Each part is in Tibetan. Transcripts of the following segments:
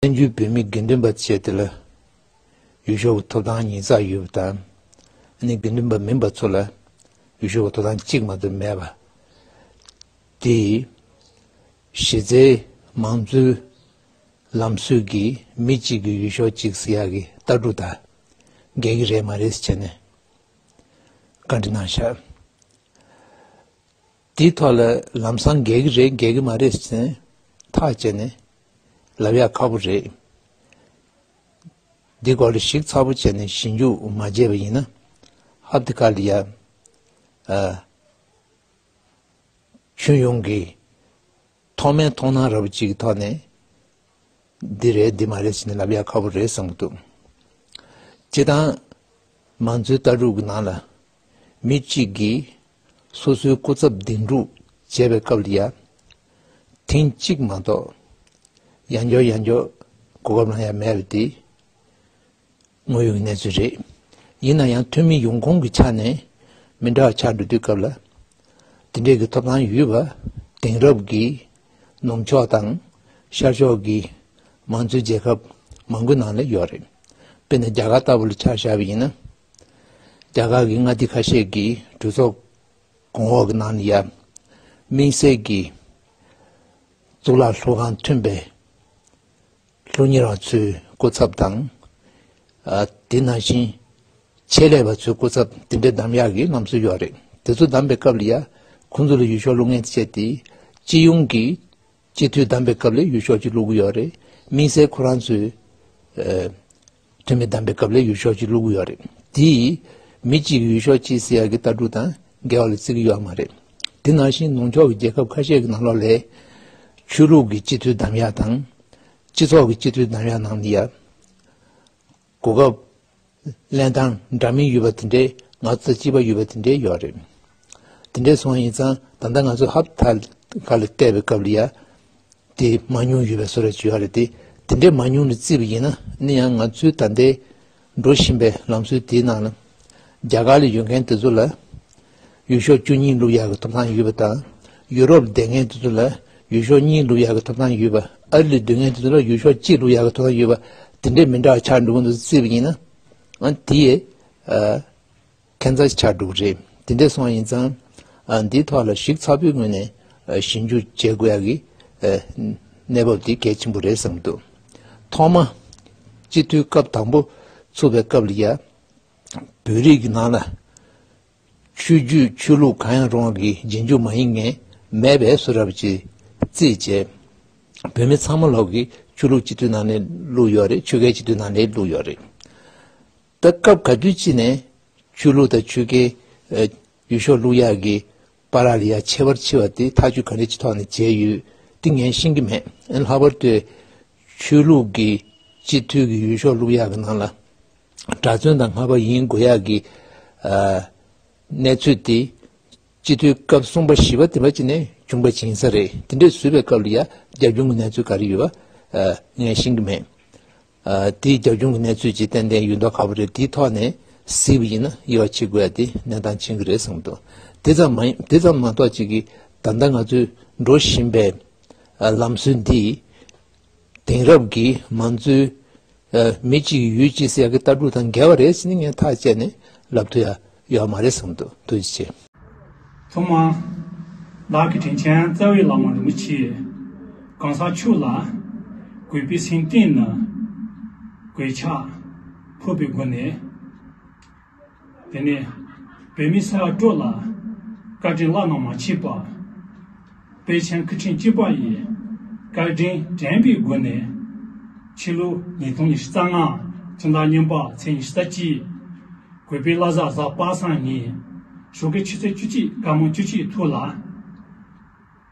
བཙན་བྱོལ་བོད་མིའི་དགེ་འདུན་པ་བཅས་དེ་ལ་ཡུལ་ཤོག་གི་ཐོབ་ཐང་གཉིས་རྩ་ཡོད་པ་དང། ཨ་ནེ་དགེ་འདུན་པ་མིན་པ་ཚོ་ལ་ཡུལ་ཤོག་གི་ཐོབ་ཐང་གཅིག་མ་གཏོགས་མེད་པ་དེས། གཞི་རྩའི་མང་གཙོའི་ལམ་སྲོལ་གྱིས་མི་གཅིག་གིས་ཡུལ་ཤོག་གཅིག་ཟེར་ཡག་གི་ལྟ་གྲུབ་དང་འགལ་གྱི་རེད་མ་རེད་བྱས་ནས་བཀའ་འདྲི་གནང་ཤག། དེའི་ཐོག་ལ་ལམ་སང་འགལ་གྱི་རེད་འགལ་གྱི་མ་རེད་ཟེར་ཐག་བཅད་ནས་ལབ་ཡག་ཁག་པོ་རེད། འདི་སྐོར་ལ་ཞིག་ཚ་པོ་བྱས་ནས་ཞི་འཇུག་མ་བྱས་པ་ཡིན་ན་ཧབ་དེ་ག་ལ་ཡ། ཁྱོད་ཡོང་གི། ཐོག་མའི་མཐོང་སྣང་ར་བ་གཅིག་གི་ཐོག་ནས་འདི་རེད་འདི་མ་རེད་ཟེར་ནས་ལབ་ཡག་ཁག་པོ་རེད་བསམ་གྱི་འདུག་སྤྱི་བཏང་མང་གཙོའི་ལྟ་གྲུབ་ཀྱི་ནང་ལ་མི་གཅིག་གིས་སོ་སོའི་སྐུ་ཚབ་འདེམས་སྒྲུག་བྱེད་པའི་སྐབས་ལ་ཡང་ཐེངས་གཅིག་མ་གཏོགས་ཡང་འགྱོགས་ཡང་འགྱོགས་གོ་སྐབས་གང་ཡང་མེད་པ་དེ་དངོས་ཡོད་ཀྱི་གནས་ཚུལ་རེད། ཡིན་ན་ཡང་འཐུས་མི་ཡོངས་ཁོངས་ཀྱི་ཆ་ནས་མི་འདྲ་བ་ཆགས་འགྲོ་དུས་སྐབས་ལ་དེ་འདྲའི་གི་ཐོབ་ཐང་ཡོད་པ་དེང་རབས་ཀྱི་ནུབ་ཕྱོགས་དང་ཤར་ཕྱོགས་ཀྱི་མང་གཙོའི་རྒྱལ་ཁབ་མང་པོའི་ནང་ལ་ཡོད་རེད་དཔེར་ན་རྒྱ་གར་ལྟ་བུ་ལ་ཆ་བཞག་པ་ཡིན་ན། རྒྱ་གར་གྱི་མངའ་སྡེ་ཁ་ཤས་ཀྱི་གྲོས་ཚོགས་གོང་འོག་གི་ནང་ནས་ཡབ་མིང་གསལ་གྱི་གཙུག་ལག་ལྷུ་ཁང་མཐུན་པའི་ལྷུ་ཉེར་བ་ཚོའི་སྐུ་ཚབ་དང། དེ་ནང་བཞིན་ཆེད་ལས་པ་ཚོའི་སྐུ་ཚབ་དེ་འདྲའི་གདམ་ཡག་གི་གནམ་སྲོལ་ཡོད་རེད་དེ་ཚོ་གདམ་པའི་སྐབས་ལ་ཡང་ཁོང་ཚོ་ལ་ཡུལ་ཤོག་ལུགས་ངན་སྤྱད་དེ་སྤྱི་ཡོངས་ཀྱི་སྤྱི་འཐུས་བདམས་པའི་སྐབས་ལས་ཡུལ་ཤོག་ཅིག་བླུག་གི་ཡོད་རེད། དམིགས་བསལ་ཁོ་རང་ཚོའི། འཐུས་མི་བདམས་པའི་སྐབས་ལས་ཡུལ་ཤོག་ཅིག་བླུག་གི་ཡོད་རེད། དེས། མི་གཅིག་གིས་ཡུལ་ཤོག་ཅིག་སེལ་ཡ་གི་ལྟ་གྲུབ་དང་འགལ་བ་ལ་བརྩི་གི་ཡོད་པ་མ་རེད། དེ་ནང་བཞིན་ནང་ཆོས་ཀྱི་རྒྱལ་ཁབ་ཁ་ཤས་ཀྱི་ནང་ལོགས་ལས། ཆོས་ལུགས་ཀྱི་སྤྱི་འཐུས་བདམས་ཡ་དང། སྤྱི་ཚོགས་ཀྱི་སྤྱི་འཐུས་བདམས་ཡ་ནང་ནི་ཡ། གོ་སྐབས། གླེན་ཐང་འདྲ་མིན་ཡོད་པ་དེ་འདྲའི་ང་ཚོ་ཚ་སྐྱིད་པ་ཡོད་པ་དེ་འདྲའི་ཡོད་རེད། དེ་འདྲའི་སོང་ཡིན་ཙང་ད་ལྟ་ང་ཚོ་ཧབ་ཐ་ག་ལ་བལྟས་པའི་སྐབས་ལ་ཡ། དེ་མ་ཉུང་ཡོད་པའི་བཟོ་རེ་བྱོས་ཡ་རེད་དེ་དེ་འདྲའི་མ་ཉུང་ལ་བརྩིས་པ་ཡིན་ན་ནི་ཡང་ང་ཚོའི་ད་ལྟའི་འགྲོ་བཞིན་པའི་ལམ་སྲོལ་དེའི་ནང་ལ། རྒྱ་གར་ལ་ཡོད་མཁན་དེ་ཚོ་ལ། ཡུལ་ཤོག་བཅུ་གཉིས་ལུགས་ཡག་གི་ཐོབ་ཐང་ཡོད་པ་དང་ཡུ་རོབ་བདེ་ངན་དེ་ཚོ་ལ་ཡུལ་ཤོག་གཉིས་ལུགས་ཡག་གི་ཐོབ་ཐང་ཡོད་པ་ཨར་ལི་བདུན་ངན་དེ་ཚོ་ལ་ཡུལ་ཤོག་གཅིག་ལུགས་ཡག་གི་ཐོབ་ཐང་ཡོད་པ་དེ་འདྲའི་མི་འདྲ་བ་ཆགས་འགྲོ་གི་འདུག་རྩིས་པ་ཡིན་ན་འང་དེ་ཡི་ཁེ་འཛག་ཆགས་འགྲོ་གི་རེད་དེ་འདྲས་སོང་ཡིན་ཙང་འདིའི་ཐོག་ལ་ཞིབ་ཚགས་པོའི་ངོས་ནས་ཞིབ་འཇུག་བྱེད་དགོས་ཡག་གི་གནས་བབ་དེ་གལ་ཆེན་པོ་རེད་བསམ་འདུག་ཐོག་མ་སྤྱི་འཐུས་སྐབས་དང་པོ་ཚུགས་པའི་སྐབས་ལ་ཡ། བོད་རིགས་ཀྱི་ནང་ལ་ཆོས་རྒྱུད་ཆོས་ལུགས་གང་ཡང་རུང་བ་ཀྱི་རྗེས་འཇུག་མ་ཡིན་ངེས་མེད་པའི་སུ་རབ་ཀྱི་རྩིས་བྱས། བོད་མི་ཚང་མ་ལོག་གི་ཆོས་ལུགས་སྤྱི་འཐུས་ནང་ནས་བླུགས་ཡོད་རེད་ཆོལ་ཁའི་སྤྱི་འཐུས་ནང་ནས་བླུགས་ཡོད་རེད། ད་སྐབས་ག་དུས་ཅི་ནས་ཆོས་ལུགས་དང་ཆོལ་ཁའི་ཡུལ་ཤོག་བླུགས་ཡག་གི་པ་ར་ལི་ཡ་ཆེ་བར་ཕྱི་བ་དེ་ཐག་གཅོད་ག་རེ་ཅི་ཐོག་ནས་བྱས་ཡོད་དེ་ངས་ཤེས་ཀྱི་མེད་ཨེ་ལྷག་པར་དུ་ཆོས་ལུགས་ཀྱི་སྤྱི་འཐུས་ཀྱི་ཡུལ་ཤོག་བླུགས་ཡག་གི་ནང་ལ། གྲྭ་བཙུན་དང་སྔ་བ་ཡིན་དགོས་ཡག་གི་གནས་ཚུལ་དེ་སྤྱི་འཐུས་སྐབས་གསུམ་པ་བཞི་བ་དེ་འདྲ་ཅིག་ནས་བྱུང་བ་བྱིན་ས་རེད་དེ་འདྲས་བཟོས་པའི་སྐབས་ལ་ཡ་རྒྱ་གཞུང་གི་གནས་ཚུལ་ག་རེ་ཡོད་པ་ངས་ཤེས་ཀྱི་མེད། དེ་རྒྱ་གཞུང་གི་གནས་ཚུལ་ཇི་ཏན་ཏན་ཡོད་མདོག་ག་བུ་རེད་དེའི་ཐོག་ནས་གཟིགས་པ་ཡིན་ན་དབྱེ་བ་ཕྱེ་དགོས་ཡ་དེ་གནས་སྟངས་ཕྱིན་གྱི་རེད་བསམ་འདུག་དེ་ཙམ་མ་ཡིན་དེ་ཙམ་མ་གཏོགས་ཅིག་གིས་ད་ལྟ་ང་ཚོས་འགྲོ་བཞིན་པའི་ལམ་སྲོལ་འདིས། དེང་རབས་ཀྱི་མང་གཙོའི་མི་གཅིག་ཡུལ་གཅིག་ཟེར་ཡག་གི་ལྟ་གྲུབ་དང་འགལ་བ་རེད་ཟེར་ནི་ངས་ཐག་བཅད་ནས་ལབ་ཐུ་ཡག་ཡོད་མ་རེད་བསམ་འདུག་ཐུགས་རྗེ་ཆེ། ཐུབ་མ། བདག་གི་དྲིན་ཆེན་རྩ་བའི་ལག་དམར་རིན་པོ་ཆེ། གང་ཟག་ཕྱུག་ལ། གུས་པའི་སེམས་གཏིང་ནས། གུས་ཕྱག། ཕུར་པའི་སྒོ་ནས། དེ་ནས་བོད་མི་སེར་སྤྲོ་ལ་བཀའ་དྲིན་བླ་ན་མ་མཆིས་པ། དཔལ་ཆེན་སྐུ་ཕྲེང་གཅིག་པ་ཡི་བཀའ་དྲིན་དྲན་པའི་སྒོ་ནས། ཕྱི་ལོ་ཉིས་སྟོང་ཉི་ཤུ་རྩ་ལྔ་སྤྱི་ཟླ་སྨྱོན་པ་ཚེས་ཉི་ཤུ་རྩ་གཅིག་གུས་པའི་བླ་གཟའ་གཟའ་པ་སངས་ཉིན་ཞོགས་ཀྱི་ཆུ་ཚོད་བཅུ་གཅིག་དཀར་མོ་བཅུ་གཅིག་ཐུག་ལ།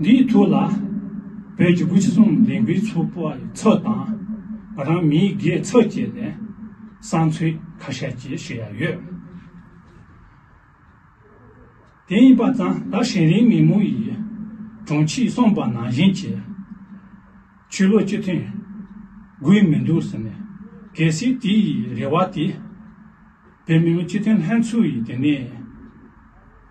འདིའི་ཐུགས་ལ། བོད་ཀྱི་སྐུ་ཕྱི་གསུམ་ལས་འགུལ་ཚོགས་པ་ཡི་ཚབ་དང། ང་རང་མིའི་སྒེར་ཚབ་བཅས་ནས་བསང་མཆོད་ཁ་ཤས་བཅས་ཞུ་ཡ་ཡོད། དེ་ཡིན་པ་ཙང་ད་ཧྲེན་རིའི་མི་མོ་ཡི་དྲུང་ཆེས་གསུངས་པ་ནང་བཞིན་གྱི། ཆོས་ལུགས་གཅིག་མཐུན་དགོས་མི་འདུག་ཟེར་ནས་གལ་སྲིད་དེ་ཡི་རེ་བ་དེ་བོད་མི་མང་སྤྱི་མཐུན་ལྷན་ཚོགས་ཡི་དེ་ནས།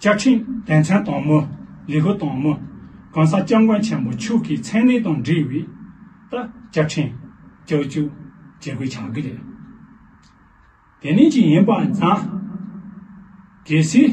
བཅའ་ཁྲིམས་དད་མཚན་དང་མོ་ལི་ཧུ་དང་མོ་གང་ས་སྐྱབས་མགོན་ཆེན་པོ་ཕྱུག་གི་མཚན་གནས་དང་འབྲེལ་བའི་ལྟར་བཅའ་ཁྲིམས་བསྐྱར་བཅོས་བྱེད་དགོས་ཆགས་ཀྱི་རེད། དེ་ནས་ཀྱི་ཡིན་པ་ཛམ་གལ་སྲིད།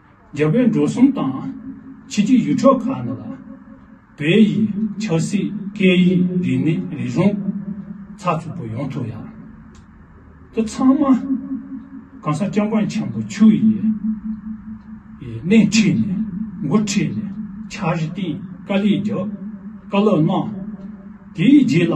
རྒྱ་བོད་འགྲོ་སོང་དང། ཕྱི་རྒྱལ་ཡུལ་གྲོགས་ཁག་ནང་ལ། བོད་ཡིག་ཆབ་སྲིད་སྐད་ཡིག་རིག་གནས་རིག་གཞུང་ཚགས་ཚུད་པོ་ཡོང་ཐུབ་ཡག། འདི་ཚང་མ་གང་ཟག་སྐྱབས་མགོན་ཆེན་པོ་ཆུ་ཡི་སྣེ་ཁྲིད་ནས་མགོ་ཁྲིད་ནས་འཆར་གཞི་བཏིང་དཀའ་ལས་རྒྱབ་དཀའ་ལོ་གནང། དེའི་རྗེས་ལ།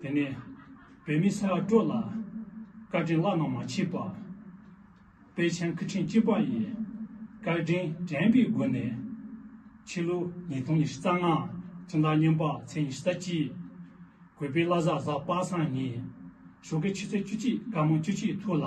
དེ་ནས་བོད་མི་ས་ཡ་དྲུག་ལ་བཀའ་དྲིན་བླ་ན་མ་མཆིས་པ། དཔལ་ཆེན་སྐུ་ཕྲེང་གཅིག་པ་ཡི་བཀའ་དྲིན་དྲན་པའི་སྒོ་ནས། ཕྱི་ལོ་ཉིས་སྟོང་ཉི་ཤུ་རྩ་ལྔ་སྤྱི་ཟླ་སྨྱོན་པ་ཚེས་ཉི་ཤུ་རྩ་གཅིག་གུས་པའི་བླ་གཟའ་གཟའ་པ་སངས་ཉིན་ཞོགས་ཀྱི་ཆུ་ཚོད་བཅུ་གཅིག་དཀར་མོ་བཅུ་གཅིག་ཐུག་ལ།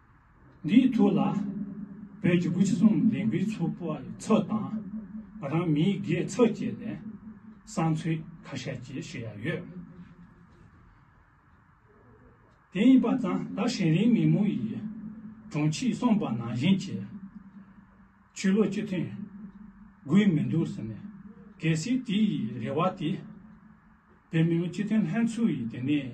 འདིའི་ཐུགས་ལ་བོད་ཀྱི་སྐུ་ཕྱི་གསུམ་ལས་འགུལ་ཚོགས་པ་ཡི་ཚབ་དང་ང་རང་མིའི་སྒེར་ཚབ་བཅས་ནས་བསང་ཚུལ་ཁ་ཤས་བཅས་ཞུ་ཡ་ཡོད། དེ་ཡིན་པ་ཙང་ད་ཧྲེན་རིན་མི་མོ་ཡི་དྲུང་ཆེས་གསུངས་པ་ནང་བཞིན་གྱི་ཆོས་ལུགས་གཅིག་མཐུན་དགོས་མི་འདུག་ཟེར་ནས་གལ་སྲིད་དེ་ཡི་རེ་བ་དེ་བོད་མི་མང་སྤྱི་མཐུན་ལྷན་ཚོགས་ཡི་དེ་ནས་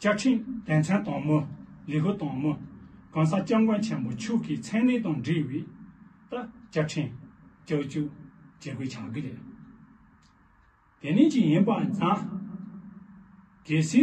བཅའ་ཁྲིམས་དད་མཚན་དང་མོ་ལི་ཧུ་དང་མོ་གང་ས་སྐྱབས་མགོན་ཆེན་པོ་ཕྱུག་གི་མཚན་གནས་དང་འབྲེལ་བའི་ད་བཅའ་ཁྲིམས་བསྐྱར་བཅོས་བྱེད་དགོས་ཆགས་ཀྱི་རེད། དེ་ནས་ཅི་ཡིན་པ་ཛང་གེ་སི།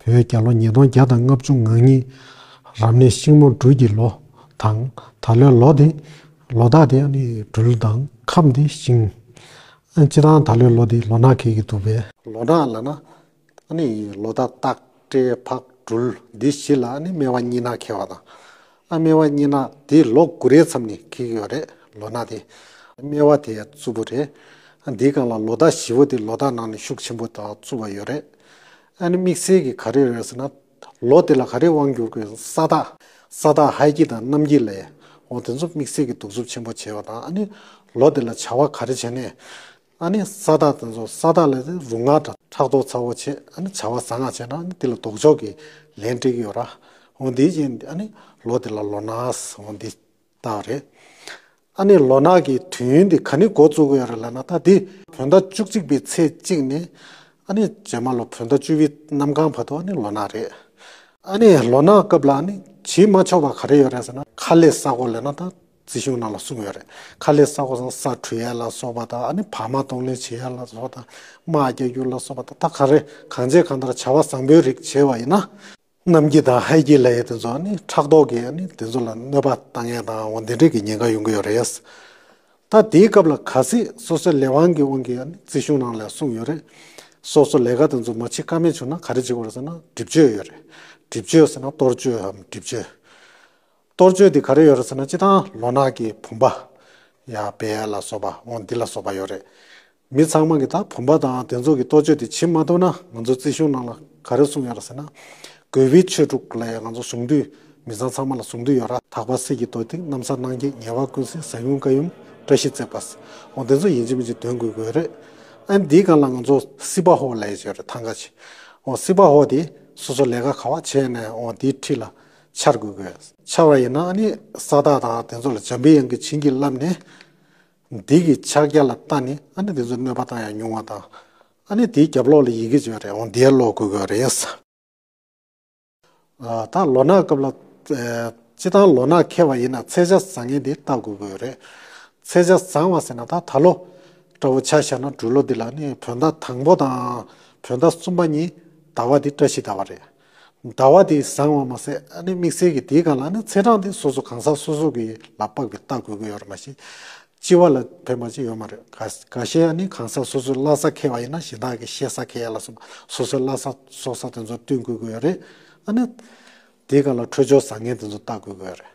བོད་རྒྱ་ལོ་ཉིས་སྟོང་བརྒྱ་དང་ལྔ་བཅུ་ང་གཉིས། རབ་གནས་ཤིང་མོ་སྦྲུལ་གྱི་ལོ། དང། ད་ལོའི་ལོ་དེ། ལོ་དག་དེ། སྦྲུལ་དང། ཁམས་དེ། ཤིང། སྤྱི་དང་ད་ལོའི་ལོ་དེ་ལོ་ནག་གེགས་ཀྱི་དུ་བས། ལོ་ནག་ལ་ན། ལོ་དག་སྟག། སྤྲེལ། ཕག། སྦྲུལ། འདི་བཞི་ལ་ནི་སྨེ་བ་གཉིས་ནག་ཁེལ་བ་དང། ཨ་སྨེ་བ་གཉིས་ནག་དེ་ལོ་དགུ་རེའི་མཚམས་ནས་ཁེགས་ཡོད་རེད་ལོ་ནག་དེ་ཨ་སྨེ་བ་དེ་རྩུབ་པོ་རེད་འདི་སྒང་ལ་ལོ་ཟླ་བཞི་བོ་དེ་ལོ་ཟླ་ནང་ནས་ཤུགས་ཆེན་པོ་དང་རྩུབ་བ་ཡོད་རེད་ཨ་ནི་དམིགས་བསལ་གྱི་ག་རེ་རེད་ཟེར་ན་ལོ་དེ་ལ་ག་རེ་དབང་བསྒྱུར་དགོས་ས་དག་ས་དག་ཧའི་དཀྱིལ་དང་གནམ་དཀྱིལ་ལའོ་དེ་ཚོ་དམིགས་བསལ་གྱི་གདུག་རྩུབ་ཆེན་པོ་བྱས་པ་དང་ཨ་ནི་ལོ་དེ་ལ་བྱ་བ་ག་རེ་བྱས་ནས་ཨ་ནི་ས་བདག་དང་སོགས་ས་བདག་ལས་ཏེ་རུ་ང་དང་ཕྲག་དོག་ཚ་བོ་ཆེ་ཨ་ནི་བྱ་བ་བཟང་ང་བྱས་ན་ཨ་ནི་དེ་ལ་ལྡོག་ཕྱོགས་ཀྱི་ལན་སྤྲད་ཀྱི་ཡོད་ར་ཨོ་འདི་བཞིན་ཨ་ནི་ལོ་དེ་ལ་ལོ་ནགས་ཨོ་འདི་ལྟ་བུ་རེད། ཨ་ནི་ལོ་ནགས་ཀྱི་དུས་ཡུན་དེ་ག་ནི་འགོ་བཙུགས་ཀྱི་ཡོད་རེད་ལབ་ན་ད་དེ། བོད་ཟླ་བཅུ་གཅིག་པའི་ཚེས་གཅིག་ནས་ཨ་ནི་རྗེས་མ་ལོ་བོད་ཟླ་བཅུ་བའི་གནམ་གང་བར་དུ་ཨ་ནི་ལོ་ནགས་རེད། ཨ་ནི་ལོ་ནགས་སྐབས་ལ་ཨ་ནི་བྱེད་མ་ཆོག་པ་ག་རེ་ཡོད་རེད་ཟེར་ན་ཁ་ལས་ས་གོ་ལས་ན་ད་རྩིས་གཞུང་རྣམས་ལ་གསུངས་ཡོད་རེད། ཁ་ལས་ས་གོ་ས་འཁྲུད་ཡས་ལ་སོགས་པ་དང་ཨ་ནི་བག་མ་གཏོང་ལེན་བྱེད་ཡས་ལ་སོགས་དང་རྨ་རྒྱ་རྒྱུག་ལ་སོགས་པ་དང་ད་ག་རེ་གང་བྱས་གང་ལྟར་བྱ་བ་བཟང་པོའི་རིགས་བྱས་པ་ཡིན་ན། གནམ་སྐྱི་དང་ཧའི་སྐྱི་ལ་ཡས་དེ་ཚོ་ཨ་ནི་ཕྲག་དོག་གིས་ཨ་ནི་དེ་ཚོ་ལ་གནོད་པ་བཏང་ངེས་དང་འོ་འདི་འདྲས་ཀྱི་ཉེན་ཁ་ཡོང་གི་ཡོད་རེད། ད་དེའི་སྐབས་ལ་ག་སྲིད་སོ་སོའི་ལས་དབང་གི་དབང་གིས་ཨ་ནི་རྩིས་གཞུང་རྣམས་ལ་གསུངས་ཡོད་རེད། སོ་སོ་ལས་ཀ་དེ་ཚོ་མ་བྱེད་ཀ་མེད་བྱུང་ན་ག་རེ་བྱེད་དགོས་རེད་ཟེར་ན་སྒྲིབ་གཅོད་ཡོད་རེད། སྒྲིབ་གཅོད་ཟེར་ན་གཏོར་གཅོད་འམ་སྒྲིབ་གཅོད། གཏོར་མཆོད་འདི་ག་རེ་ཡོད་རེད་ཟེར་ན་སྤྱི་དང་ལོ་ནག་གི་བུམ་པ། ཡ་བེ་ལ་སོགས་པ་འོང་འདི་ལ་སོགས་པ་ཡོད་རེད། མི་ཚང་མ་གི་ད་བུམ་པ་དང་དེ་ཚོ་གི་གཏོར་མཆོད་འདི་བྱེད་མ་ཐུབ་ན་ང་ཚོའི་རྩིས་གཞུང་ནང་ལ་ག་རེ་གསུངས་ཡོད་རེད་ཟེར་ན། གོས་བུའི་ཆོས་དྲུག་ལ་ཡང་ང་ཚོ་ཟུང་དུས་མི་ཚང་ཚང་མ་ལ་ཟུང་དུས་ཡོད་ར་དག་པ་སྲིད་ཀྱི་རྡོ་ཏིག་གནམ་ས་གནང་སྐྱེས་ཉེ་བ་ཀུན་སྲིད་ས་ཡུམ་ཀ་ཡུམ་བཀྲ་ཤིས་བརྩེགས་པ། འོང་དེ་ཚོ་ཡིན་གཅིག་མིན་གཅིག་དོན་དགོས་དགོས་རེད། ཨན་འདིའི་སྒང་ལ་ང་ཚོ་སྲིད་པ་ཧོ་ལས་ཡོད་རེད་ཐང་ག་ཆེ། འོང་སྲིད་པ་ཧོ་དེ་སོ་སོ་ལས་ཀ་ག་བ་བྱས་ནས་འོང་འདིའི་ཁྲི་ལ། འཆར་དགོས་གལ་ཆེ་བ་ཡིན་ན་ནི་ས་བདག་དང་དེ་ཚོ་ལ་འཇམ་པའི་དབྱངས་ཀྱིས་བྱིན་གྱིས་བརླབས་ནས། འདི་གི་ཕྱག་རྒྱ་ལ་བལྟ་ནས་ནི་དེ་ཚོའི་གནོད་པ་དང་ཡང་ཉུང་བ་དང། ནི་དེའི་རྒྱབ་ལོགས་ལ་ཡི་གེ་བྱེད་པ་རེའང་འདིའི་ལོགས་དགོས་གལ་རེད། ད་ལོ་ནག་སྐབས་ལ། སྤྱི་དང་ལོ་ནག་ཁེལ་བ་ཡིན་ན་ཚེས་ཆ་བཟང་ངན་འདི་བལྟ་དགོས་གལ་རེད། ཚེས་ཆ་བཟང་བ་ཟེར་ན་ད་ད་ལོ། སྤྲ་བོ་ཆ་ཤར་ན་སྦྲུལ་ལོ་འདི་ལ་ནི་བོད་ཟླ་དང་པོ་དང། བོད་ཟླ་གསུམ་པ་གཉིས་ཟླ་བ་འདི་བཀྲ་ཤིས་ཟླ་བ་རེད། ཟླ་བ་དེ་བཟང་བ་མ་ཟད་ཨ་ནི་དམིགས་བསལ་གྱི་དེའི་སྒང་ལ་ཨ་ནི་ཚེས་གྲངས་དེ་སོ་སོ་གང་ཟག་སོ་སོ་གི་ལ་དཔག་པའི་རྟགས་དགོས་ཀྱི་ཡོད་རེད་མ་གཞི། སྤྱི་བ་ལ་ཕན་པ་ཅི་ཡོད་མ་རེད་ག་ག་ཤེད་ཨ་ནི་གང་ཟག་སོ་སོའི་བླ་ས་ཁེལ་བ་ཡིན་ན་གཞན་དག་གི་ཤེས་ས་ཁེལ་ཡ་ལ་སོ་སོ་སོའི་བླ་ས་སྲོག་ས་དེ་ཚོར་བསྟུན་དགོས་ཀྱི་ཡོད་རེད་ཨ་ནི། དེའི་སྒང་ལ་འཕྲོད་སྦྱོར་བཟང་ངན་དེ་ཚོ་བརྟག་དགོས་ཀྱི་ཡོད་རེད།